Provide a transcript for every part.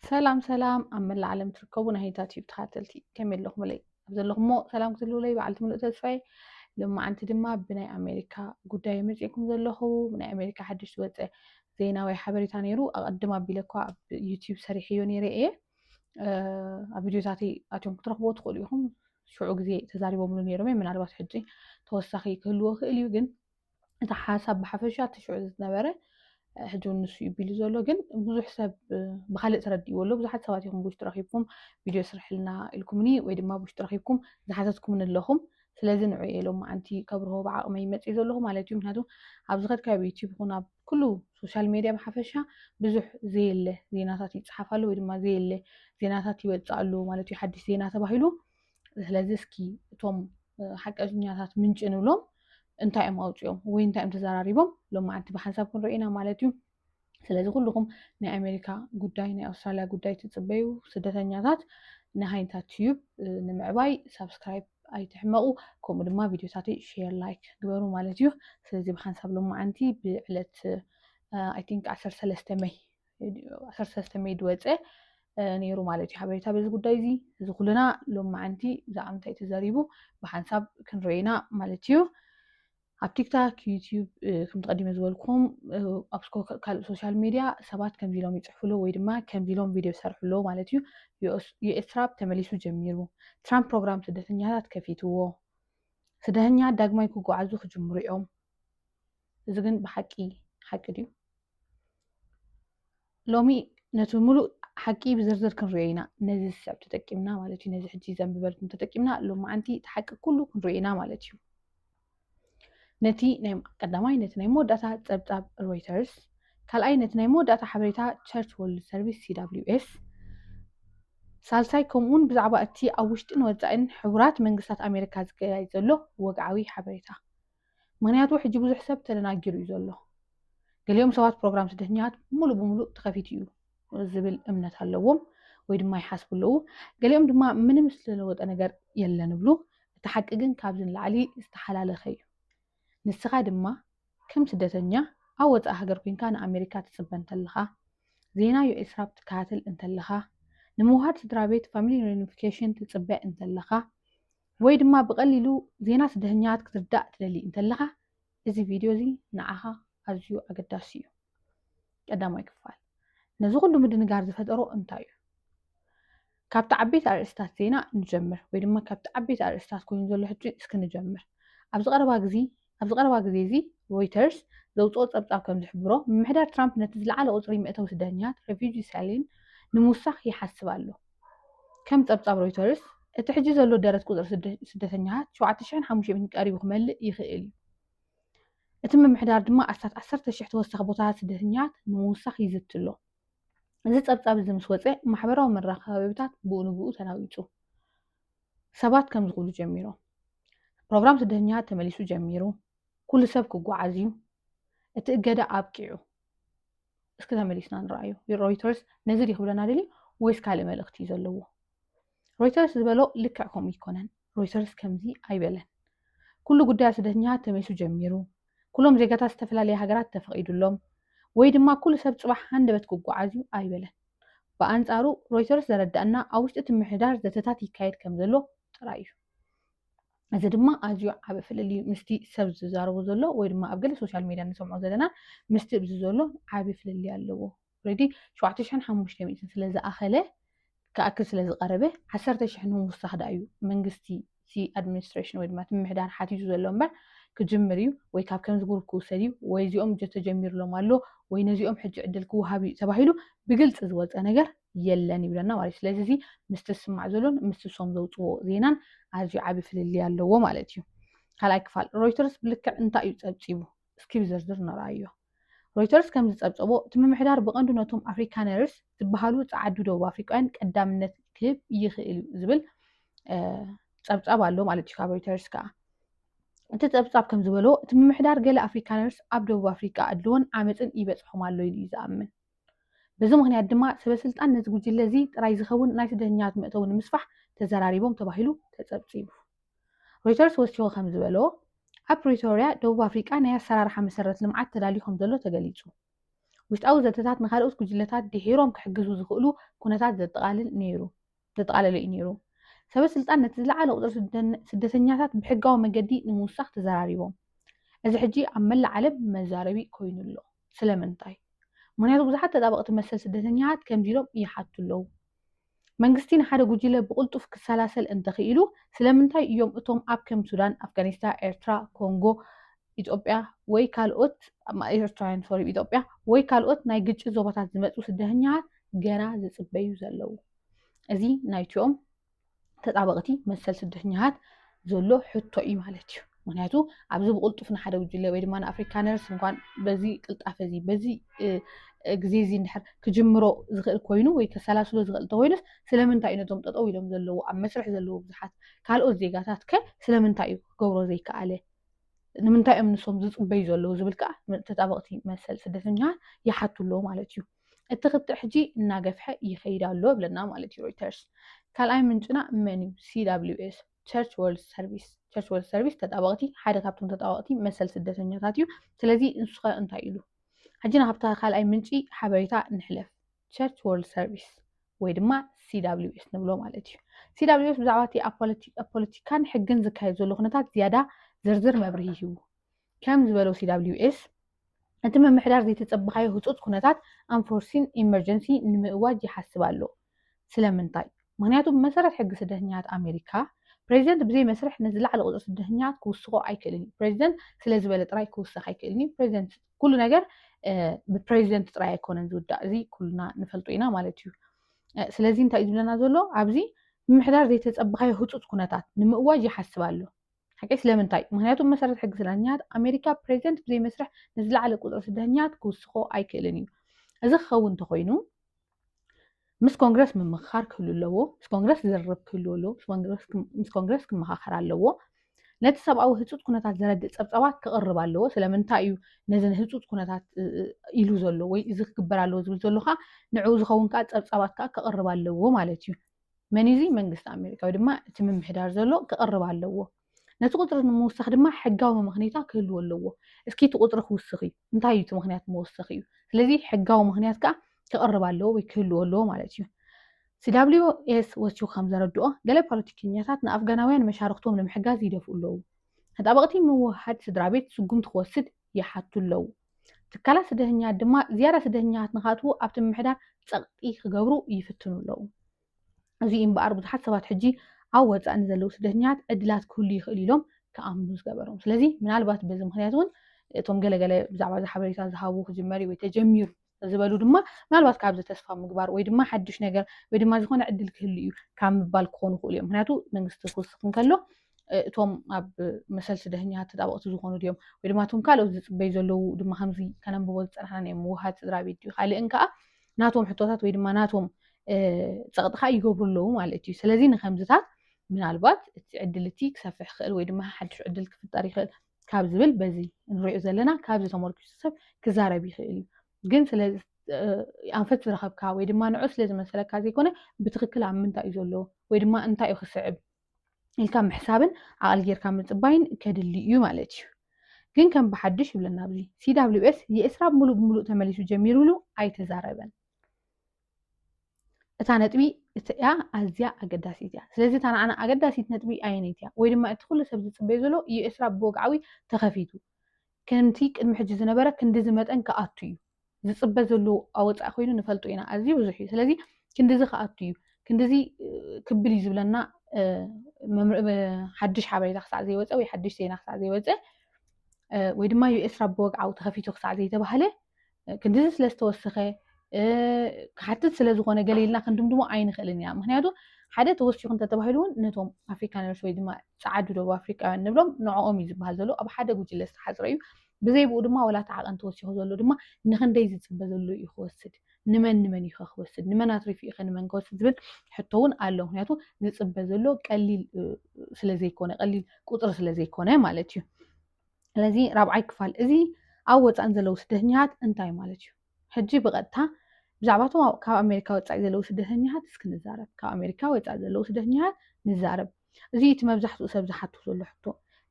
ሰላም ሰላም ኣብ መላእ ዓለም ትርከቡ ናይ ሂታ ቲዩብ ተኸታተልቲ ከመይ ኣለኹምለይ ኣብ ዘለኹሞ ሰላም ክትህልውለይ በዓልቲ ምሉእ ተስፋይ ልማዓንቲ ድማ ብናይ ኣሜሪካ ጉዳይ መፂእኩም ዘለኹ ብናይ ኣሜሪካ ሓድሽ ዝወፀ ዜና ወይ ሓበሬታ ነይሩ ኣቐድም ኣቢለ እኳ ኣብ ዩቲዩብ ሰሪሐዮ ነይረ እየ ኣብ ቪዲዮታተይ ኣትዮም ክትረኽብዎ ትኽእሉ ኢኹም ሽዑ ግዜ ተዛሪቦምሉ ነይሮም እየ ምናልባት ሕጂ ተወሳኺ ክህልዎ ክእል እዩ ግን እቲ ሓሳብ ብሓፈሻ እቲ ሽዑ ዝነበረ ሕጂ እውን ንሱ እዩ ቢሉ ዘሎ ግን ብዙሕ ሰብ ብካልእ ተረዲእዎ ኣሎ ብዙሓት ሰባት ኢኹም ብውሽጢ ረኪብኩም ቪድዮ ስርሕልና ኢልኩምኒ ወይ ድማ ብውሽጢ ረኪብኩም ዝሓተትኩምኒ ኣለኹም ስለዚ ንዑ እየ ሎም መዓንቲ ከብርሆ ብዓቕመይ መፅኢ ዘለኹ ማለት እዩ ምክንያቱ ኣብ ዝኸድካ ኣብ ዩቲብ ይኹን ኣብ ኩሉ ሶሻል ሜድያ ብሓፈሻ ብዙሕ ዘየለ ዜናታት ይፅሓፍ ኣሎ ወይ ድማ ዘየለ ዜናታት ይወፅእ ኣሎ ማለት እዩ ሓድሽ ዜና ተባሂሉ ስለዚ እስኪ እቶም ሓቀኛታት ምንጭ ንብሎም እንታይ እዮም ኣውፅኦም ወይ እንታይ እዮም ተዘራሪቦም ሎም መዓልቲ ብሓንሳብ ክንሪኦ ኢና ማለት እዩ ስለዚ ኩልኹም ናይ ኣሜሪካ ጉዳይ ናይ ኣውስትራልያ ጉዳይ ትፅበዩ ስደተኛታት ንሃይንታት ትዩብ ንምዕባይ ሳብስክራይብ ኣይትሕመቑ ከምኡ ድማ ቪድዮታትይ ሼር ላይክ ግበሩ ማለት እዩ ስለዚ ብሓንሳብ ሎም መዓንቲ ብዕለት ኣይ ቲንክ ዓሰርተ ሰለስተ መይ ዓሰርተ ሰለስተ ሜይ ዝወፀ ነይሩ ማለት እዩ ሓበሬታ በዚ ጉዳይ እዚ እዚ ኩልና ሎም መዓንቲ ብዛዕባ ምንታይ ተዘሪቡ ብሓንሳብ ክንሪኦ ኢና ማለት እዩ ኣብ ቲክታክ ዩትዩብ ከም ተቐዲመ ዝበልኩም ኣብ ካልእ ሶሻል ሚድያ ሰባት ከምዚ ኢሎም ይፅሕፍሉ ወይ ድማ ከምዚ ኢሎም ቪድዮ ይሰርሕሉ ማለት እዩ የኤርትራ ተመሊሱ ጀሚሩ ትራምፕ ፕሮግራም ስደተኛታት ከፊትዎ ስደተኛ ዳግማይ ክጓዓዙ ክጅምሩ እዮም እዚ ግን ብሓቂ ሓቂ ድዩ ሎሚ ነቲ ሙሉእ ሓቂ ብዝርዝር ክንሪኦ ኢና ነዚ ዝስዕብ ተጠቂምና ማለት እዩ ነዚ ሕጂ ዘንብበልኩም ተጠቂምና ሎማዓንቲ እቲ ሓቂ ኩሉ ክንሪኦ ኢና ማለት እዩ ነቲ ናይ ቀዳማይ ነቲ ናይ መወዳእታ ፀብፃብ ሮይተርስ ካልኣይ ነቲ ናይ መወዳእታ ሓበሬታ ቸርች ወርልድ ሰርቪስ ሲዳብሊዩኤስ ሳልሳይ ከምኡውን ብዛዕባ እቲ ኣብ ውሽጢን ወፃኢን ሕቡራት መንግስታት ኣሜሪካ ዝካየድ ዘሎ ወግዓዊ ሓበሬታ ምክንያቱ ሕጂ ብዙሕ ሰብ ተደናጊሩ እዩ ዘሎ። ገሊኦም ሰባት ፕሮግራም ስደተኛታት ሙሉእ ብሙሉእ ተኸፊቱ እዩ ዝብል እምነት ኣለዎም ወይ ድማ ይሓስቡ ኣለዉ። ገሊኦም ድማ ምንም ዝተለወጠ ነገር የለን እብሉ። እቲ ሓቂ ግን ካብዚ ንላዕሊ ዝተሓላለኸ እዩ። ንስኻ ድማ ከም ስደተኛ ኣብ ወፃኢ ሃገር ኮንካ ንኣሜሪካ ትፅበ እንተለኻ፣ ዜና ዩኤስ ራፕ ትከታተል እንተለኻ፣ ንምውሃድ ስድራ ቤት ፋሚሊ ሪዩኒፊኬሽን ትፅበ እንተለኻ፣ ወይ ድማ ብቐሊሉ ዜና ስደተኛታት ክትርዳእ ትደሊ እንተለኻ እዚ ቪድዮ እዚ ንዓኻ ኣዝዩ ኣገዳሲ እዩ። ቀዳማይ ክፋል ነዚ ኩሉ ምድንጋር ዝፈጠሮ እንታይ እዩ? ካብቲ ዓበይቲ ኣርእስታት ዜና ንጀምር ወይ ድማ ካብቲ ዓበይቲ ኣርእስታት ኮይኑ ዘሎ ሕጂ እስኪ ንጀምር። ኣብዚ ቀረባ ግዜ ኣብዚ ቀረባ ግዜ እዚ ሮይተርስ ዘውጽኦ ጸብጻብ ከም ዝሕብሮ፣ ምምሕዳር ትራምፕ ነቲ ዝለዓለ ቁጽሪ መእተዊ ስደተኛታት፣ Refugee Ceiling፣ ንምውሳኽ ይሓስብ ኣሎ። ከም ጸብጻብ ሮይተርስ፣ እቲ ሕጂ ዘሎ ደረት ቁጽሪ ስደተኛታት ሸውዓተ ሽሕን ሓሙሽተ ሚእትን ቀሪቡ ክመልእ ይኽእል እዩ። እቲ ምምሕዳር ድማ ኣስታት ዓሰርተ ሽሕ ተወሳኺ ቦታታት ስደተኛታት ንምውሳኽ ይዝቲ ኣሎ። እዚ ጸብጻብ እዚ ምስ ወጸ፣ ማሕበራዊ መራኸቢታት ብኡ ንብኡ ተናዊጹ። ሰባት ከምዚ ክብሉ ጀሚሮም፣ ፕሮግራም ስደተኛታት ተመሊሱ ጀሚሩ፣ ኩሉ ሰብ ክጓዓዝ እዩ፣ እቲ እገዳ ኣብቂዑ። እስኪ ተመሊስና ንረኣዩ። ሮይተርስ ነዚ ድዩ ክብለና ደልዩ ወይስ ካልእ መልእኽቲ እዩ ዘለዎ? ሮይተርስ ዝበሎ ልክዕ ከምኡ ይኮነን። ሮይተርስ ከምዚ ኣይበለን። ኩሉ ጉዳያ ስደተኛታት ተመሊሱ ጀሚሩ፣ ኩሎም ዜጋታት ዝተፈላለየ ሃገራት ተፈቒዱሎም፣ ወይ ድማ ኩሉ ሰብ ጽባሕ ሃንደበት ክጓዓዝ እዩ ኣይበለን። ብኣንጻሩ ሮይተርስ ዘረደኣና ኣብ ውሽጢ እቲ ምሕዳር ዘተታት ይካየድ ከም ዘሎ ጥራይ እዩ። እዚ ድማ ኣዝዩ ዓቢ ፍልልዩ ምስቲ ሰብ ዝዛረቦ ዘሎ ወይ ድማ ኣብ ገለ ሶሻል ሜድያ ንሰምዖ ዘለና ምስቲ እብዚ ዘሎ ዓቢ ፍልልይ ኣለዎ። ኦረዲ ሸውዓተ ሽሕን ሓሙሽተ ሚእትን ስለ ዝኣኸለ ክኣክል ስለ ዝቐረበ ዓሰርተ ሽሕ ንምውሳኽ ደኣ እዩ መንግስቲ እቲ ኣድሚኒስትሬሽን ወይ ድማ እቲ ምምሕዳር ሓቲቱ ዘሎ እምበር ክጅምር እዩ ወይ ካብ ከምዚ ግሩፕ ክውሰድ እዩ ወይ እዚኦም እጆ ተጀሚርሎም ኣሎ ወይ ነዚኦም ሕጂ ዕድል ክወሃብ እዩ ተባሂሉ ብግልፂ ዝወፀ ነገር የለን ይብለና ማለት እዩ ስለዚ እዚ ምስቲ ዝስማዕ ዘሎን ምስ ሶም ዘውፅዎ ዜናን ኣዝዩ ዓብዪ ፍልልይ ኣለዎ ማለት እዩ ካልኣይ ክፋል ሮይተርስ ብልክዕ እንታይ እዩ ፀብፂቡ እስኪ ብዝርዝር ንርኣዮ። ሮይተርስ ከም ዝጸብጸቦ፣ እቲ ምምሕዳር ብቐንዱ ነቶም ኣፍሪካነርስ ዝበሃሉ ጸዓዱ ደቡብ ኣፍሪቃውያን ቀዳምነት ክህብ ይኽእል እዩ ዝብል ጸብጻብ ኣሎ ማለት እዩ ካብ ሮይተርስ ከኣ እቲ ጸብጻብ ከም ዝበሎ እቲ ምምሕዳር ገለ ኣፍሪካነርስ ኣብ ደቡብ ኣፍሪቃ ኣድልዎን ዓመፅን ይበጽሖም ኣሎ ኢሉ እዩ ዝኣምን በዚ ምክንያት ድማ ሰበስልጣን ነዚ ጉጅለ እዚ ጥራይ ዝኸውን ናይ ስደተኛታት መእተዊ ንምስፋሕ ተዘራሪቦም ተባሂሉ ተጸብጺቡ ሮይተርስ ወሲኹ ከም ዝበሎ፣ ኣብ ፕሪቶርያ ደቡብ ኣፍሪቃ ናይ ኣሰራርሓ መሰረት ልምዓት ተዳልዩ ከም ዘሎ ተገሊጹ። ውሽጣዊ ዘተታት ንኻልኦት ጉጅለታት ድሒሮም ክሕግዙ ዝኽእሉ ኩነታት ዘጠቓልል ነይሩ ዘጠቓለለ እዩ ነይሩ። ሰበ ስልጣን ነቲ ዝለዓለ ቁጽሪ ስደን ስደተኛታት ብሕጋዊ መገዲ ንምውሳኽ ተዘራሪቦም። እዚ ሕጂ ኣብ መላእ ዓለም መዛረቢ ኮይኑ ኣሎ። ስለምንታይ? ምኽንያቱ ብዙሓት ተጣበቕቲ መሰል ስደተኛታት ከምዚ ኢሎም ይሓቱ ኣለዉ። መንግስቲ ንሓደ ጉጂለ ብቕልጡፍ ክሰላሰል እንተኽኢሉ ስለምንታይ እዮም እቶም ኣብ ከም ሱዳን፣ ኣፍጋኒስታ፣ ኤርትራ፣ ኮንጎ፣ ኢትዮጵያ ወይ ካልኦት ኤርትራውያን ሶሪ ኢትዮጵያ ወይ ካልኦት ናይ ግጭት ዞባታት ዝመጹ ስደተኛታት ገና ዝጽበዩ ዘለዉ እዚ ናይቲኦም ተጣበቕቲ መሰል ስደተኛታት ዘሎ ሕቶ እዩ ማለት እዩ። ምክንያቱ ኣብዚ ብቕልጡፍ ንሓደ ጉጅለ ወይ ድማ ንኣፍሪካነርስ እንኳን በዚ ቅልጣፈ እዚ በዚ ግዜ እዚ እንድሕር ክጅምሮ ዝኽእል ኮይኑ ወይ ከሰላስሎ ዝኽእል እንተኮይኑስ ስለምንታይ እዩ ነቶም ጠጠው ኢሎም ዘለዎ ኣብ መስርሕ ዘለዎ ብዙሓት ካልኦት ዜጋታት ከ ስለምንታይ እዩ ክገብሮ ዘይከኣለ ንምንታይ እዮም ንሶም ዝፅበዩ ዘለዉ ዝብል ከዓ ተጣበቕቲ መሰል ስደተኛታት ይሓቱ ኣለዎ ማለት እዩ እቲ ክትዕ ሕጂ እናገፍሐ ይኸይድ ኣሎ ብለና ማለት እዩ ሮይተርስ። ካልኣይ ምንጭና መን እዩ? CWS ቸርች ወርልድ ሰርቪስ ቸርች ወርልድ ሰርቪስ ተጣበቕቲ ሓደ ካብቶም ተጣበቕቲ መሰል ስደተኛታት እዩ። ስለዚ ንሱኸ እንታይ ኢሉ? ሕጂ ናብታ ካልኣይ ምንጪ ሓበሬታ ንሕለፍ። ቸርች ወርልድ ሰርቪስ ወይ ድማ CWS ንብሎ ማለት እዩ። CWS ብዛዕባ እቲ ኣብ ፖለቲካን ሕግን ዝካየድ ዘሎ ኩነታት ዝያዳ ዝርዝር መብርሂ ሂቡ። ከም ዝበለው CWS እቲ ምምሕዳር ዘይተጸበኻዮ ህጹጽ ኩነታት ኣንፎርሲን ኢመርጀንሲ ንምእዋጅ ይሓስብ ኣሎ። ስለምንታይ? ምክንያቱ ብመሰረት ሕጊ ስደተኛታት ኣሜሪካ፣ ፕሬዚደንት ብዘይ መስርሕ ነቲ ዝለዓለ ቁጽሪ ስደተኛታት ክውስኾ ኣይክእልን እዩ። ፕሬዚደንት ስለዝበለ ጥራይ ክውሰኽ ኣይክእልን እዩ። ፕሬዚደንት ኩሉ ነገር ብፕሬዚደንት ጥራይ ኣይኮነን ዝውዳእ፣ እዚ ኩልና ንፈልጦ ኢና ማለት እዩ። ስለዚ እንታይ እዩ ዝብለና ዘሎ ኣብዚ ምምሕዳር ዘይተጸበኻዮ ህጹጽ ኩነታት ንምእዋጅ ይሓስብ ኣሎ። ሓቂ ስለምንታይ? ምክንያቱ ብመሰረት ሕጊ ስደተኛታት ኣሜሪካ ፕሬዚደንት ብዘይ መስርሕ ንዝለዓለ ቁፅሪ ስደተኛታት ክውስኮ ኣይክእልን እዩ። እዚ ክኸውን እንተኾይኑ ምስ ኮንግረስ ምምኽኻር ክህሉ ኣለዎ ምስ ኮንግረስ ዝርርብ ክህልዎ ኣለዎ ምስ ኮንግረስ ክመኻኸር ኣለዎ ነቲ ሰብኣዊ ህፁፅ ኩነታት ዘረድእ ፀብፀባት ክቕርብ ኣለዎ ስለምንታይ እዩ ነዚ ህፁፅ ኩነታት ኢሉ ዘሎ ወይ እዚ ክግበር ኣለዎ ዝብል ዘሎ ከዓ ንዕኡ ዝኸውን ከዓ ፀብፀባት ከዓ ክቕርብ ኣለዎ ማለት እዩ መን እዩ እዚ መንግስቲ ኣሜሪካ ወይ ድማ እቲ ምምሕዳር ዘሎ ክቕርብ ኣለዎ ነቲ ቁፅሪ ንምውሳኽ ድማ ሕጋዊ መመኽኔታ ክህልዎ ኣለዎ እስኪ እቲ ቁፅሪ ክውስኽ እዩ እንታይ እዩ እቲ ምክንያት መወሰኺ እዩ ስለዚ ሕጋዊ ምክንያት ከዓ ክቕርብ ኣለዎ ወይ ክህልዎ ኣለዎ ማለት እዩ ሲዳብሊዮ ኤስ ወቹ ከም ዘረድኦ ገለ ፖለቲከኛታት ንኣፍጋናውያን መሻርክቶም ንምሕጋዝ ይደፍኡ ኣለዉ ተጣበቕቲ ምውህሃድ ስድራ ቤት ስጉምቲ ክወስድ ይሓቱ ኣለዉ። ትካላት ስደተኛት ድማ ዝያዳ ስደተኛታት ንኻትዉ ኣብቲ ምምሕዳር ጸቕጢ ክገብሩ ይፍትኑ ኣለዉ። እዚ እዩ እምበኣር ብዙሓት ሰባት ሕጂ ኣብ ወጻኢ ንዘለዉ ስደተኛታት ዕድላት ክህሉ ይኽእል ኢሎም ክኣምኑ ዝገበሮም። ስለዚ ምናልባት በዚ ምክንያት እውን እቶም ገለገለ ብዛዕባ እዚ ሓበሬታ ዝሃቡ ክጅመር እዩ ወይ ተጀሚሩ ዝበሉ ድማ ምናልባት ካብዚ ተስፋ ምግባር ወይ ድማ ሓድሽ ነገር ወይ ድማ ዝኾነ ዕድል ክህሉ እዩ ካብ ምባል ክኾኑ ይኽእሉ እዮም ምክንያቱ መንግስቲ ክውስኽ እንከሎ እቶም ኣብ መሰል ስደተኛታት ተጣበቕቲ ዝኾኑ ድዮም ወይ ድማ እቶም ካልኦት ዝፅበዩ ዘለዉ ድማ ከምዚ ከነንብቦ ዝፀናሕና ናይ ምውሃድ ስድራ ቤት ድዩ ካልእን ከዓ ናቶም ሕቶታት ወይ ድማ ናቶም ፀቕጢ ከዓ ይገብሩ ኣለዉ ማለት እዩ ስለዚ ንከምዝታት ምናልባት እቲ ዕድል እቲ ክሰፍሕ ይኽእል ወይ ድማ ሓድሽ ዕድል ክፍጠር ይኽእል ካብ ዝብል በዚ እንሪኦ ዘለና ካብዚ ተመርኪሱ ሰብ ክዛረብ ይኽእል እዩ ግን ስለ ኣንፈት ዝረኸብካ ወይ ድማ ንዑ ስለ ዝመሰለካ ዘይኮነ ብትክክል ኣብ ምንታይ እዩ ዘሎ ወይ ድማ እንታይ እዩ ክስዕብ ኢልካ ምሕሳብን ዓቕሊ ጌርካ ምፅባይን ከድሊ እዩ ማለት እዩ ግን ከም ብሓድሽ ይብለና ኣብዚ ሲዳብሊው ኤስ የእስራብ ሙሉእ ብሙሉእ ተመሊሱ ጀሚሩ ኢሉ ኣይተዛረበን እታ ነጥቢ እቲያ ኣዝያ ኣገዳሲት እያ ስለዚ እታ ንዓና ኣገዳሲት ነጥቢ ኣየነይቲ እያ ወይ ድማ እቲ ኩሉ ሰብ ዝፅበዮ ዘሎ እዩ ኤርትራ ብወግዓዊ ተኸፊቱ ከምቲ ቅድሚ ሕጂ ዝነበረ ክንዲዚ መጠን ክኣቱ እዩ ዝፅበ ዘሎ ኣወፃኢ ኮይኑ ንፈልጡ ኢና ኣዝዩ ብዙሕ እዩ ስለዚ ክንዲዚ ክኣቱ እዩ ክንዲዚ ክብል እዩ ዝብለና ሓድሽ ሓበሬታ ክሳዕ ዘይወፀ ወይ ሓድሽ ዜና ክሳዕ ዘይወፀ ወይ ድማ ዩኤስራ ብወግዓዊ ተኸፊቱ ክሳዕ ዘይተባህለ ክንድዚ ስለ ዝተወሰኸ ክሓትት ስለ ዝኾነ ገለ ኢልና ክንድምድሞ ኣይንኽእልን ኢና ምክንያቱ ሓደ ተወሲኹ እንተተባሂሉ እውን ነቶም ኣፍሪካነርስ ወይ ድማ ፀዓዱ ደቡብ ኣፍሪካውያን ንብሎም ንዕኦም እዩ ዝበሃል ዘሎ ኣብ ሓደ ጉጅለ ዝተሓፅረ እዩ ብዘይብኡ ድማ ወላ እቲ ዓቐን ተወሲኹ ዘሎ ድማ ንክንደይ ዝፅበ ዘሎ እዩ ክወስድ ንመን ንመን እዩ ክወስድ ንመን ኣትሪፉ እዩ ንመን ክወስድ ዝብል ሕቶ እውን ኣሎ ምክንያቱ ዝፅበ ዘሎ ቀሊል ስለዘይኮነ ቀሊል ቁፅሪ ስለዘይኮነ ማለት እዩ ስለዚ ራብዓይ ክፋል እዚ ኣብ ወፃእን ዘለዉ ስደተኛታት እንታይ ማለት እዩ ሕጂ ብቐጥታ ብዛዕባ እቶም ካብ ኣሜሪካ ወፃኢ ዘለዉ ስደተኛታት እስኪ ንዛረብ ካብ ኣሜሪካ ወፃኢ ዘለዉ ስደተኛታት ንዛረብ እዚ እቲ መብዛሕትኡ ሰብ ዝሓቱ ዘሎ ሕቶ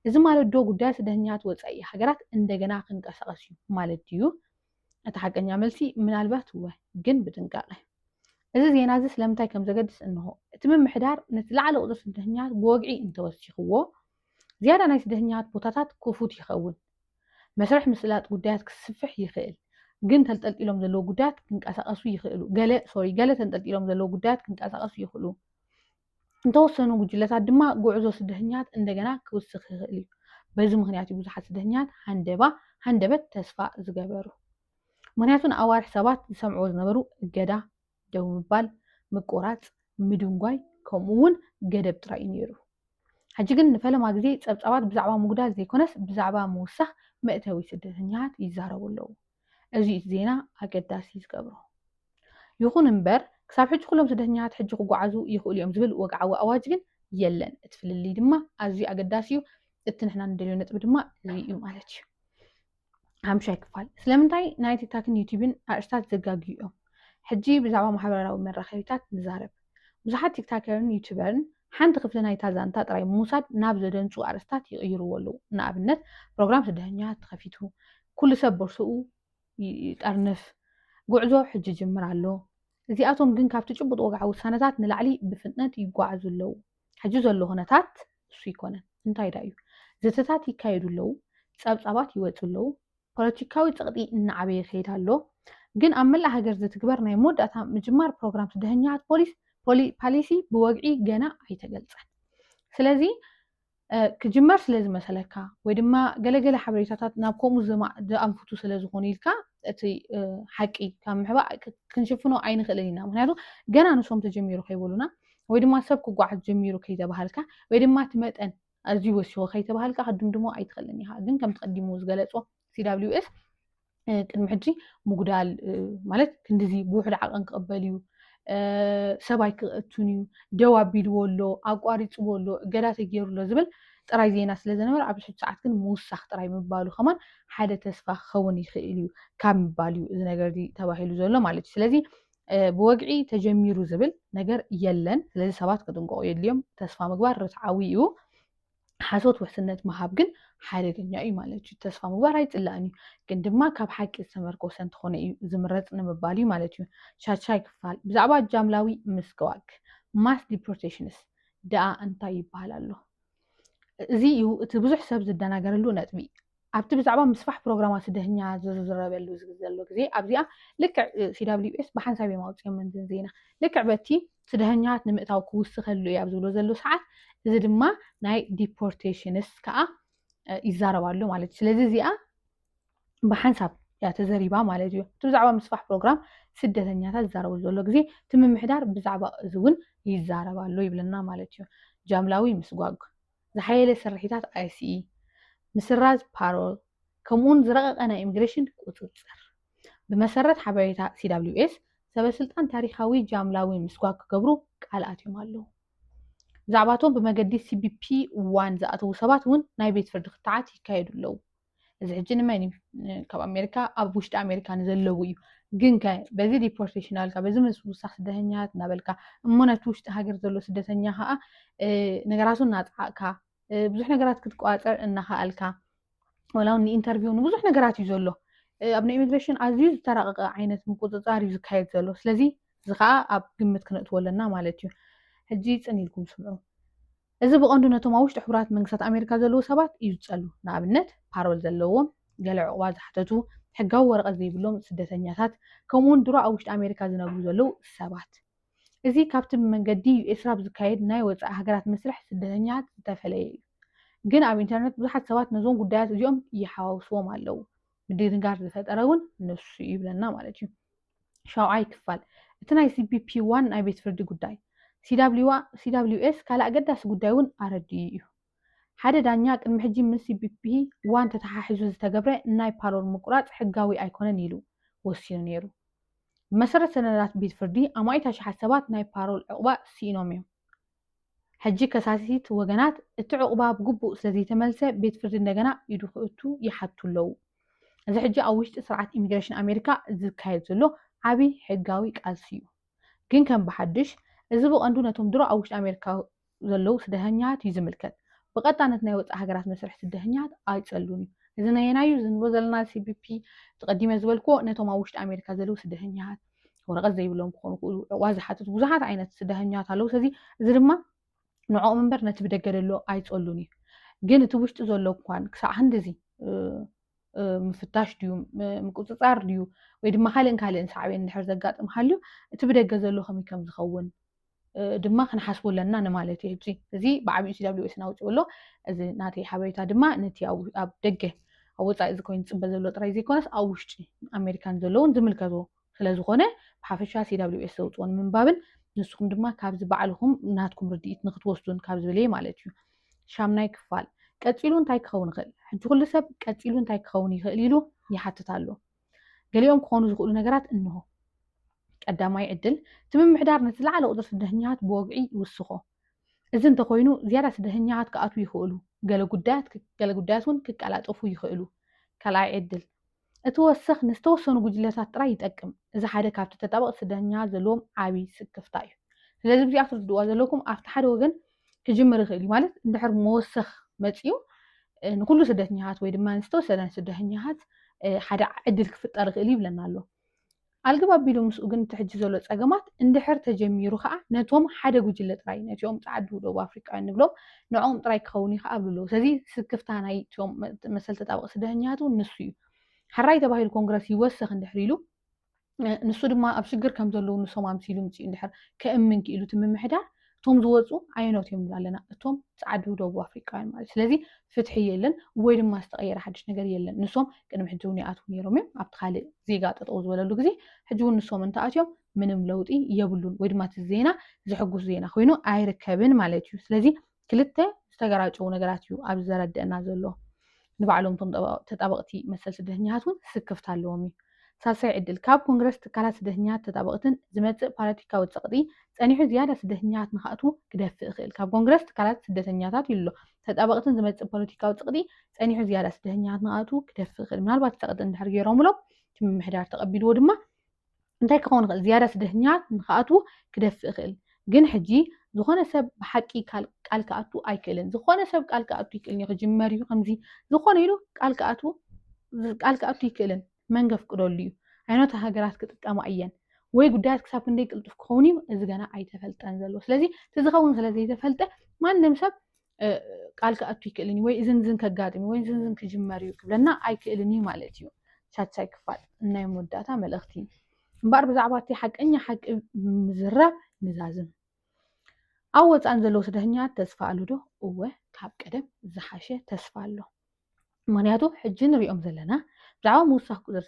እዚ ማለት ዶ ጉዳይ ስደተኛታት ወፃኢ ሃገራት እንደገና ክንቀሳቀስ እዩ ማለት ድዩ እቲ ሓቀኛ መልሲ ምናልባት እወ ግን ብጥንቃቐ እዚ ዜና እዚ ስለምንታይ ከም ዘገድስ እንሆ እቲ ምምሕዳር ነቲ ላዕለ ቁፅሪ ስደተኛታት ብወግዒ እንተወሲኽዎ ዝያዳ ናይ ስደተኛታት ቦታታት ክፉት ይኸውን። መስርሕ ምስላጥ ጉዳያት ክስፍሕ ይኽእል፣ ግን ተልጠልጢሎም ዘለዉ ጉዳያት ክንቀሳቐሱ ይኽእሉ። ገለ ሶሪ ገለ ተንጠልጢሎም ዘለዉ ጉዳያት ክንቀሳቐሱ ይኽእሉ። እንተወሰኑ ጉጅለታት ድማ ጉዕዞ ስደተኛታት እንደገና ክውስኽ ይኽእል እዩ። በዚ ምክንያት እዩ ብዙሓት ስደተኛታት ሃንደባ ሃንደበት ተስፋ ዝገበሩ። ምክንያቱ ንኣዋርሕ ሰባት ዝሰምዕዎ ዝነበሩ እገዳ ደው ምባል፣ ምቁራጽ፣ ምድንጓይ ከምኡ ውን ገደብ ጥራይ እዩ ነይሩ። ሕጂ ግን ንፈለማ ግዜ ጸብጻባት ብዛዕባ ምጉዳል ዘይኮነስ ብዛዕባ ምውሳኽ መእተዊ ስደተኛታት ይዛረቡ ኣለዉ። እዚ እዩ እቲ ዜና ኣገዳሲ ዝገብሮ። ይኹን እምበር ክሳብ ሕጂ ኩሎም ስደተኛታት ሕጂ ክጓዓዙ ይኽእሉ እዮም ዝብል ወግዓዊ ኣዋጅ ግን የለን። እቲ ፍልልይ ድማ ኣዝዩ ኣገዳሲ እዩ። እቲ ንሕና ንደልዮ ነጥቢ ድማ እዚ እዩ ማለት እዩ። ሓምሻይ ክፋል ስለምንታይ ናይ ቲክታክን ዩቲብን ኣርእስታት ዘጋግዩ እዮም ሕጂ ብዛዕባ ማሕበራዊ መራኸቢታት ንዛረብ ብዙሓት ቲክታከርን ዩቱበርን ሓንቲ ክፍሊ ናይታ ዛንታ ጥራይ ምውሳድ ናብ ዘደንጹ ኣርእስታት ይቕይርዎ ኣለዉ ንኣብነት ፕሮግራም ስደተኛ ተኸፊቱ ኩሉ ሰብ ቦርሶኡ ይጠርንፍ ጉዕዞ ሕጂ ጅምር ኣሎ እዚኣቶም ግን ካብቲ ጭቡጥ ወግዓዊ ውሳነታት ንላዕሊ ብፍጥነት ይጓዓዙ ኣለዉ ሕጂ ዘሎ ኩነታት እሱ ይኮነን እንታይ ዳ እዩ ዘተታት ይካየዱ ኣለዉ ጸብጻባት ይወጹ ኣለዉ ፖለቲካዊ ጸቕጢ እናዓበየ ይኸይድ ኣሎ ግን ኣብ መላእ ሃገር ዝትግበር ናይ መወዳእታ ምጅማር ፕሮግራም ስደተኛታት ፖሊስ ፓሊሲ ብወግዒ ገና ኣይተገልጸን ስለዚ ክጅመር ስለ ዝመሰለካ ወይ ድማ ገለገለ ሓበሬታታት ናብ ከምኡ ዝኣንፍቱ ስለ ዝኾኑ ኢልካ እቲ ሓቂ ካብ ምሕባእ ክንሽፍኖ ኣይንኽእልን ኢና ምክንያቱ ገና ንሶም ተጀሚሩ ከይበሉና ወይ ድማ ሰብ ክጓዓዝ ጀሚሩ ከይተባሃልካ ወይ ድማ እቲ መጠን ኣዝዩ ወሲኹ ከይተባሃልካ ክድምድሞ ኣይትኽእልን ኢኻ ግን ከምቲ ቀዲሙ ዝገለጾ ሲዳብሊውኤፍ ቅድሚ ሕጂ ምጉዳል ማለት ክንዲዚ ብውሕድ ዓቐን ክቕበል እዩ ሰብ ኣይክእቱን እዩ ደው ኣቢልዎ ኣሎ ኣቋሪፅዎ ኣሎ እገዳ ተገይሩ ኣሎ ዝብል ጥራይ ዜና ስለ ዝነበረ ኣብዚ ሕጂ ሰዓት ግን ምውሳኽ ጥራይ ምባሉ ከማን ሓደ ተስፋ ክኸውን ይኽእል እዩ ካብ ምባል እዩ እዚ ነገር እዚ ተባሂሉ ዘሎ ማለት እዩ ስለዚ ብወግዒ ተጀሚሩ ዝብል ነገር የለን። ስለዚ ሰባት ክጥንቀቑ የድልዮም። ተስፋ ምግባር ርትዓዊ እዩ። ሓሶት ውሕስነት ምሃብ ግን ሓደገኛ እዩ ማለት እዩ። ተስፋ ምግባር ኣይፅላእን እዩ፣ ግን ድማ ካብ ሓቂ ዝተመርኮሰ እንተኾነ እዩ ዝምረፅ ንምባል እዩ ማለት እዩ። ሻድሻይ ክፋል ብዛዕባ ጃምላዊ ምስግዋግ ማስ ዲፖርቴሽንስ ደኣ እንታይ ይበሃል ኣሎ? እዚ እዩ እቲ ብዙሕ ሰብ ዝደናገረሉ ነጥቢ። ኣብቲ ብዛዕባ ምስፋሕ ፕሮግራማት ስደተኛ ዝዝረበሉ ዘሎ ግዜ ኣብዚኣ ልክዕ CWS ብሓንሳብ እዮም ኣውጺኦመን እዘን ዜና ልክዕ በቲ ስደተኛታት ንምእታው ክውስኸሉ እዩ ኣብ ዝብሎ ዘሎ ሰዓት እዚ ድማ ናይ ዲፖርቴሽንስ ከዓ ይዛረብ ኣሎ ማለት እዩ ስለዚ እዚኣ ብሓንሳብ እያ ተዘሪባ ማለት እዩ እቲ ብዛዕባ ምስፋሕ ፕሮግራም ስደተኛታት ዝዛረበሉ ዘሎ ግዜ እቲ ምምሕዳር ብዛዕባ እዚ እውን ይዛረብ ኣሎ ይብለና ማለት እዩ ጃምላዊ ምስጓግ ዝሓየለ ስርሒታት ICE፣ ምስራዝ ፓሮል፣ ከምኡውን ዝረቐቐ ናይ ኢሚግሬሽን ቁጽጽር። ብመሰረት ሓበሬታ CWS፣ ሰበስልጣን ታሪኻዊ ጃምላዊ ምስጓግ ክገብሩ ቃል ኣትዮም ኣለዉ። ብዛዕባ እቶም ብመገዲ CBP One ዝኣተዉ ሰባት እውን ናይ ቤት ፍርዲ ክትዓት ይካየዱ ኣለዉ። እዚ ሕጂ ንመን እዩ ካብ ኣሜሪካ ኣብ ውሽጢ ኣሜሪካ ንዘለዉ እዩ ግን ከ በዚ ዲፖርቴሽን ኣልካ በዚ ምስውሳኽ ስደተኛታት እናበልካ እሞ ነቲ ውሽጢ ሃገር ዘሎ ስደተኛ ከዓ ነገራቱ እናጥዓቕካ ብዙሕ ነገራት ክትቋፀር እናኸኣልካ ወላ እውን ንኢንተርቪው ንብዙሕ ነገራት እዩ ዘሎ ኣብ ናይ ኢሚግሬሽን ኣዝዩ ዝተራቀቀ ዓይነት ምቁፅፃር እዩ ዝካየድ ዘሎ ስለዚ እዚ ከዓ ኣብ ግምት ክነእትዎ ኣለና ማለት እዩ ሕጂ ፅን ኢልኩም ስምዑ እዚ ብቐንዱ ነቶም ኣብ ውሽጢ ሕቡራት መንግስታት ኣሜሪካ ዘለዉ ሰባት እዩ ዝጸሉ። ንኣብነት፣ ፓሮል ዘለዎም፣ ገለ ዑቕባ ዝሓተቱ፣ ሕጋዊ ወረቐት ዘይብሎም ስደተኛታት፣ ከምኡ'ውን ድሮ ኣብ ውሽጢ ኣሜሪካ ዝነብሩ ዘለዉ ሰባት። እዚ ካብቲ ብመንገዲ ዩኤስራፕ ዝካየድ ናይ ወጻኢ ሃገራት መስርሕ ስደተኛታት ዝተፈለየ እዩ። ግን ኣብ ኢንተርነት ብዙሓት ሰባት ነዞም ጉዳያት እዚኦም ይሓዋውስዎም ኣለዉ። ምድንጋር ዝፈጠረ እውን ንሱ እዩ ይብለና ማለት እዩ። ሻውዓይ ክፋል እቲ ናይ ሲፒፒ ዋን ናይ ቤት ፍርዲ ጉዳይ ሲዳብሊዩኤስ ካልእ ኣገዳሲ ጉዳይ እውን ኣረዲኡ እዩ። ሓደ ዳኛ ቅድሚ ሕጂ ምስ ሲፒፒ ዋን ተተሓሒዙ ዝተገብረ ናይ ፓሮል ምቁራጽ ሕጋዊ ኣይኮነን ኢሉ ወሲኑ ነይሩ። ብመሰረት ሰነዳት ቤት ፍርዲ ኣማኢት ኣሽሓት ሰባት ናይ ፓሮል ዕቑባ ስኢኖም እዮም። ሕጂ ከሳሲት ወገናት እቲ ዑቕባ ብግቡእ ስለዘይተመልሰ ቤት ፍርዲ እንደገና ኢዱ ክእቱ ይሓቱ ኣለዉ። እዚ ሕጂ ኣብ ውሽጢ ስርዓት ኢሚግሬሽን ኣሜሪካ ዝካየድ ዘሎ ዓቢ ሕጋዊ ቃልሲ እዩ። ግን ከም ብሓድሽ እዚ ብቐንዱ ነቶም ድሮ ኣብ ውሽጢ ኣሜሪካ ዘለዉ ስደተኛታት እዩ ዝምልከት። ብቐጣነት ናይ ወጻኢ ሃገራት መስርሕ ስደተኛታት ኣይጸሉን እዩ። እዚ ነየናይ እዩ? እዚ ንብሎ ዘለና CBP እቲ ቀዲመ ዝበልክዎ ነቶም ኣብ ውሽጢ ኣሜሪካ ዘለዉ ስደተኛታት ወረቐት ዘይብሎም ክኾኑ ክእሉ ዕቑባ ዝሓትቱ ብዙሓት ዓይነት ስደተኛት ኣለዉ ስለዚ እዚ ድማ ንዕኦም እምበር ነቲ ብደገ ዘሎ ኣይፀሉን እዩ ግን እቲ ውሽጢ ዘሎ እኳን ክሳዕ ክንዲዚ ምፍታሽ ድዩ ምቁፅፃር ድዩ ወይ ድማ ካልእን ካልእን ሳዕቤን እንድሕር ዘጋጥም ሃልዩ እቲ ብደገ ዘሎ ከመይ ከም ዝኸውን ድማ ክንሓስቦ ኣለና ንማለት እየ ህጂ እዚ ብዓብኡ ሲዳብሊዌስ ናውፅኡ ኣሎ እዚ ናተይ ሓበሬታ ድማ ነቲ ኣብ ደገ ኣብ ወፃኢ እዚ ኮይኑ ዝፅበ ዘሎ ጥራይ ዘይኮነስ ኣብ ውሽጢ ኣሜሪካን ዘለውን ዝምልከቶ ስለዝኾነ ብሓፈሻ ሲዳብሊዌስ ዘውፅኦ ንምንባብን ንስኹም ድማ ካብዚ ባዕልኹም ናትኩም ርድኢት ንክትወስዱን ካብ ዝብል እየ ማለት እዩ ሻምናይ ክፋል ቀፂሉ እንታይ ክኸውን ይኽእል ሕጂ ኩሉ ሰብ ቀፂሉ እንታይ ክኸውን ይኽእል ኢሉ ይሓትት ኣሎ ገሊኦም ክኾኑ ዝኽእሉ ነገራት እንሆ። ቀዳማይ ዕድል፣ እቲ ምምሕዳር ነቲ ዝለዓለ ቁጽሪ ስደተኛታት ብወግዒ ይውስኾ። እዚ እንተኾይኑ ዝያዳ ስደተኛታት ክኣትዉ ይኽእሉ፣ ገለ ጉዳያት ገለ ጉዳያት እውን ክቀላጠፉ ይኽእሉ። ካልኣይ ዕድል፣ እቲ ወሰኽ ንዝተወሰኑ ጉጅለታት ጥራይ ይጠቅም። እዚ ሓደ ካብቲ ተጣበቕቲ ስደተኛታት ዘለዎም ዓቢ ስክፍታ እዩ። ስለዚ ብዚኣ ክትርድእዋ ዘለኩም ኣብቲ ሓደ ወገን ክጅምር ይኽእል እዩ ማለት እንድሕር መወሰኽ መፅኡ ንኩሉ ስደተኛታት ወይ ድማ ዝተወሰነ ስደተኛታት ሓደ ዕድል ክፍጠር ይኽእል ይብለና ኣሎ ኣልግብ ኣቢሉ ምስኡ ግን እቲ ሕጂ ዘሎ ፀገማት እንድሕር ተጀሚሩ ከዓ ነቶም ሓደ ጉጅለ ጥራይ ነቲኦም ፃዓዱ ደቡብ ኣፍሪቃውያን ንብሎም ንዕኦም ጥራይ ክኸውን እዩ ከዓ ኣብሉ ኣለዉ ስለዚ ስክፍታ ናይ ቶም መሰል ተጣበቂ ስደተኛታት እውን ንሱ እዩ ሕራይ ተባሂሉ ኮንግረስ ይወሰኽ እንድሕር ኢሉ ንሱ ድማ ኣብ ሽግር ከም ዘለዉ ንሶም ኣምሲሉ ምፅኡ እንድሕር ከእምን ክኢሉ እቲ ምምሕዳር እቶም ዝወፁ ኣየኖት እዮም ንብላ ኣለና እቶም ፀዓዱ ደቡብ ኣፍሪቃውያን ማለት ስለዚ ፍትሒ የለን ወይ ድማ ዝተቐየረ ሓድሽ ነገር የለን ንሶም ቅድሚ ሕጂ እውን ይኣትዉ ነይሮም እዮም ኣብቲ ካልእ ዜጋ ጠጠው ዝበለሉ ግዜ ሕጂ እውን ንሶም እንተኣትዮም ምንም ለውጢ የብሉን ወይ ድማ እቲ ዜና ዘሕጉስ ዜና ኮይኑ ኣይርከብን ማለት እዩ ስለዚ ክልተ ዝተገራጨዉ ነገራት እዩ ኣብዚ ዘረድእና ዘሎ። ንባዕሎም እቶም ተጣበቕቲ መሰል ስደተኛታት እውን ስክፍታ ኣለዎም እዩ። ሳልሳይ ዕድል፣ ካብ ኮንግረስ ትካላት ስደተኛታት ተጣበቕትን ዝመጽእ ፓለቲካዊ ጸቕጢ ጸኒሑ ዝያዳ ስደተኛታት ንክኣትዉ ክደፍእ ይኽእል። ካብ ኮንግረስ ትካላት ስደተኛታት ኢሉ ኣሎ። ተጣበቕትን ዝመጽእ ፖለቲካዊ ጸቕጢ ጸኒሑ ዝያዳ ስደተኛታት ንክኣትዉ ክደፍእ ይኽእል። ምናልባት ጸቕጢ እንድሕር ገይሮምሎም እቲ ምምሕዳር ተቐቢልዎ ድማ እንታይ ክኸውን ይኽእል ዝያዳ ስደተኛታት ንክኣትዉ ክደፍእ ይኽእል ግን ሕጂ ዝኾነ ሰብ ብሓቂ ቃል ክኣቱ ኣይክእልን ዝኾነ ሰብ ቃል ክኣቱ ይክእል እዩ ክጅመር እዩ ከምዚ ዝኾነ ኢሉ ቃል ክኣቱ ቃል ክኣቱ ይክእልን መን ገፍቅደሉ እዩ ዓይነቱ ሃገራት ክጥቀማ እየን ወይ ጉዳያት ክሳብ ክንደይ ቅልጡፍ ክኸውን እዩ እዚ ገና ኣይተፈልጠን ዘሎ ስለዚ እቲ ዝኸውን ስለ ዘይተፈልጠ ማንም ሰብ ቃል ክኣቱ ይክእልን እዩ ወይ እዝን እዝን ከጋጥም ወይ እዝን እዝን ክጅመር እዩ ክብለና ኣይክእልን እዩ ማለት እዩ ሻድሻይ ክፋል ናይ መወዳእታ መልእኽቲ እምበኣር ብዛዕባ እቲ ሓቀኛ ሓቂ ምዝራብ ንዛዝም ኣብ ወፃእን ዘለዉ ስደተኛት ተስፋ ኣሉ ዶ እወ ካብ ቀደም ዝሓሸ ተስፋ ኣሎ ምክንያቱ ሕጂ ንሪኦም ዘለና ብዛዕባ ምውሳኽ ቁፅሪ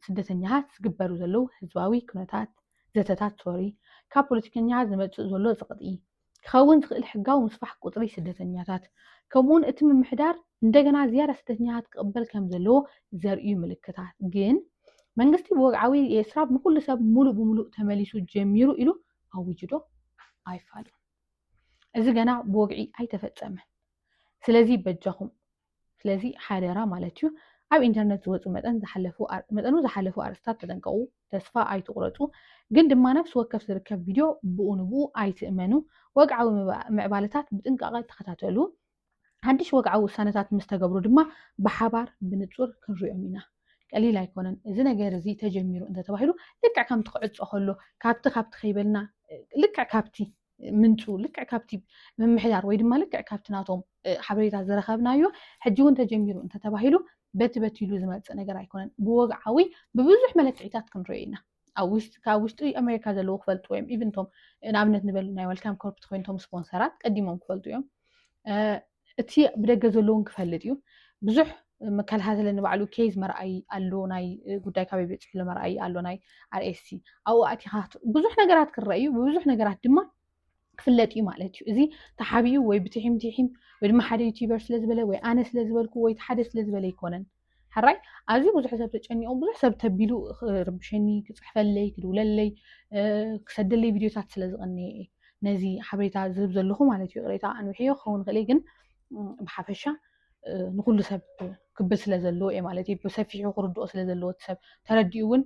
ስደተኛታት ዝግበሩ ዘለዉ ህዝባዊ ኩነታት ዘተታት ሶሪ ካብ ፖለቲከኛታት ዝመፅእ ዘሎ ፅቕጢ ክኸውን ዝኽእል ሕጋዊ ምስፋሕ ቁፅሪ ስደተኛታት ከምኡውን እቲ ምምሕዳር እንደገና ዝያዳ ስደተኛታት ክቕበል ከም ዘለዎ ዘርእዩ ምልክታት ግን መንግስቲ ብወግዓዊ የስራብ ንኩሉ ሰብ ሙሉእ ብሙሉእ ተመሊሱ ጀሚሩ ኢሉ ኣዊጅዶ ኣይፋሉን እዚ ገና ብወግዒ ኣይተፈፀመን ስለዚ በጃኹም ስለዚ ሓደራ ማለት እዩ ኣብ ኢንተርነት ዝወፁ መጠን መጠኑ ዝሓለፉ ኣርእስታት ተጠንቀቑ፣ ተስፋ ኣይትቑረፁ፣ ግን ድማ ነፍሲ ወከፍ ዝርከብ ቪድዮ ብኡ ንብኡ ኣይትእመኑ፣ ወግዓዊ ምዕባለታት ብጥንቃቐ ተኸታተሉ፣ ሓድሽ ወግዓዊ ውሳነታት ምስ ተገብሩ ድማ ብሓባር ብንፁር ክንሪኦም ኢና። ቀሊል ኣይኮነን እዚ ነገር እዚ ተጀሚሩ እንተተባሂሉ ልክዕ ከምቲ ክዕፆ ከሎ ካብቲ ካብቲ ከይበልና ልክዕ ካብቲ ምንጩ ልክዕ ካብቲ ምምሕዳር ወይ ድማ ልክዕ ካብቲ ናቶም ሓበሬታ ዝረኸብናዮ ሕጂ እውን ተጀሚሩ እንተተባሂሉ በቲ በቲ ኢሉ ዝመፅእ ነገር ኣይኮነን ብወግዓዊ ብብዙሕ መለክዒታት ክንሪኦ ኢና ካብ ውሽጢ ኣሜሪካ ዘለዎ ክፈልጥዎ እዮም ኢቭን ቶም ንኣብነት ንበል ናይ ወልካም ኮርፕት ኮይንቶም ስፖንሰራት ቀዲሞም ክፈልጡ እዮም እቲ ብደገ ዘሎ እውን ክፈልጥ እዩ ብዙሕ መከታተሊ ንባዕሉ ኬዝ መርኣይ ኣሎ ናይ ጉዳይ ካበይ በፂሑ ኣሎ መርኣይ ኣሎ ናይ ኣርኤስሲ ኣብኡ ኣቲኻ ብዙሕ ነገራት ክረአ እዩ ብብዙሕ ነገራት ድማ ክፍለጥ እዩ ማለት እዩ እዚ ተሓቢኡ ወይ ብትሒም ትሒም ወይ ድማ ሓደ ዩቲበር ስለዝበለ ወይ ኣነ ስለዝበልኩ ወይ ሓደ ስለዝበለ ኣይኮነን ሕራይ ኣዝዩ ብዙሕ ሰብ ተጨኒቑ ብዙሕ ሰብ ተቢሉ ክርብሸኒ ክፅሕፈለይ ክድውለለይ ክሰደለይ ቪድዮታት ስለ ዝቐነየ እየ ነዚ ሓበሬታ ዝህብ ዘለኹ ማለት እዩ ቅሬታ ኣንውሕዮ ክኸውን ይኽእል ግን ብሓፈሻ ንኩሉ ሰብ ክብል ስለ ዘለዎ እየ ማለት እዩ ብሰፊሑ ክርድኦ ስለ ዘለዎ እቲ ሰብ ተረዲኡ እውን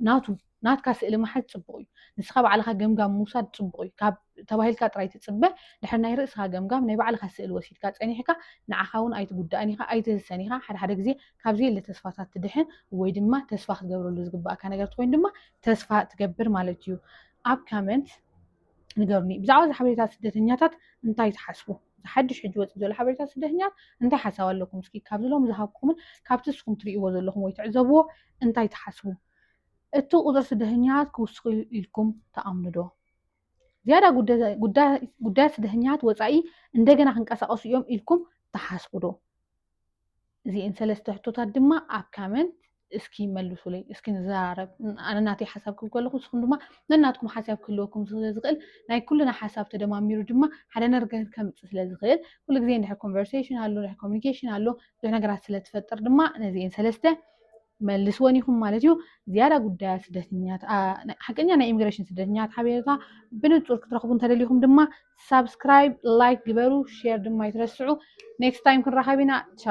ናቱ ናትካ ስእሊ ምሓዝ ጽቡቕ እዩ። ንስኻ ባዕልኻ ገምጋም ምውሳድ ጽቡቕ እዩ። ካብ ተባሂልካ ጥራይ ትጽበ፣ ድሕሪ ናይ ርእስኻ ገምጋም ናይ ባዕልኻ ስእሊ ወሲድካ ጸኒሕካ ንዓኻ ውን ኣይትጉዳእን ኢኻ ኣይትህሰን ኢኻ ሓደ ሓደ ግዜ ካብ ዘየለ ተስፋታት ትድሕን ወይ ድማ ተስፋ ክትገብረሉ ዝግባእካ ነገር ትኮይኑ ድማ ተስፋ ትገብር ማለት እዩ ኣብ ካመንት ንገሩኒ ብዛዕባ እዚ ሓበሬታ ስደተኛታት እንታይ ትሓስቡ ሓድሽ ሕጂ ወፅእ ዘሎ ሓበሬታ ስደተኛት እንታይ ሓሳብ ኣለኩም እስኪ ካብዚ ሎም ዝሃብኩምን ካብቲ እስኹም ትርእይዎ ዘለኹም ወይ ትዕዘብዎ እንታይ ትሓስቡ እቲ ቁጽሪ ስደተኛታት ክውስኽ'ዩ ኢልኩም ትኣምኑዶ? ዝያዳ ጉዳያት ስደተኛታት ወጻኢ እንደገና ክንቀሳቐሱ እዮም ኢልኩም ትሓስቡዶ? እዚኤን ሰለስተ ሕቶታት ድማ ኣብ ካመንት እስኪ መልሱለይ እስኪ ንዘራረብ ኣነ ናተይ ሓሳብ ክብ ከለኹ ንስኹም ድማ ነናትኩም ሓሳብ ክህልወኩም ስለ ዝኽእል ናይ ኩልና ሓሳብ ተደማሚሩ ድማ ሓደ ነገር ከምፅእ ስለ ዝኽእል ኩሉ ግዜ እንድሕር ኮንቨርሴሽን ኣሎ እንድሕር ኮሚኒኬሽን ኣሎ ብዙሕ ነገራት ስለ ትፈጥር ድማ ነዚኤን ሰለስተ መልስወን ኢኹም ማለት እዩ ዝያዳ ጉዳያት ስደተኛት ሓቀኛ ናይ ኢሚግሬሽን ስደተኛት ሓበሬታ ብንፁር ክትረኽቡ እንተደሊኹም ድማ ሳብስክራይብ ላይክ ግበሩ ሼር ድማ ይትረስዑ ኔክስት ታይም ክንራኸብ ኢና ቻው